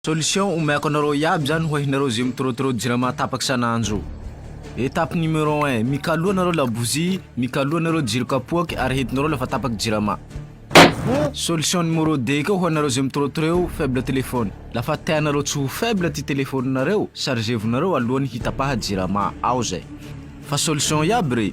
Solution omeko anareo iaby zany ho ahinareo ze mitrotrot jirama tapak isanandro. Etape numero un, mikaloa anareo labozia, mikaloa anareo jiro kapoaky ary hetinareo lafa tapak jirama. Solution numero deux koa ho anareo ze mitrotreo faible telephone. Lafa tianareo tsy ho faible ty telephone nareo, chargevo nareo alohany hitapaha jirama ao zay. Fa solution iaby re.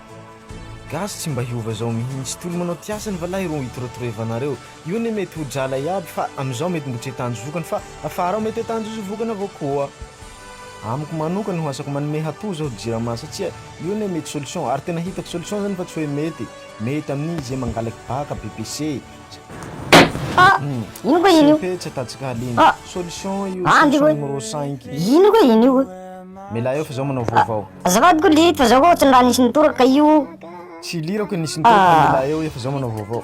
Gasy tsy mba hiova zao mihintsy tolo manao ty asany valahy ro itorotoroevanareo io anie mety ho drala iaby fa amizao mety mbo tsy tanjo vokany fa afara ao mety atanjo vokany avao koa amiko manokana ho asako manome hatoa zao jirama satsia io anie mety solution ary tena hitako solution zany fa tsy hoe mety mety amin'ize mangalaky baka BPC Ah, ino koa iny io? Tsy tsy atatsika halemy. Ah. Solution io Ah, solution ndiko. numéro 5. Ino koa iny io? Mila eo fa zao manao vaovao. Azafady koa liriko fa zao koa ohatran'ny raha nisy nitoraka io. Tsy lirako nisy ny tena fa Ah. mila eo efa zao manao vaovao.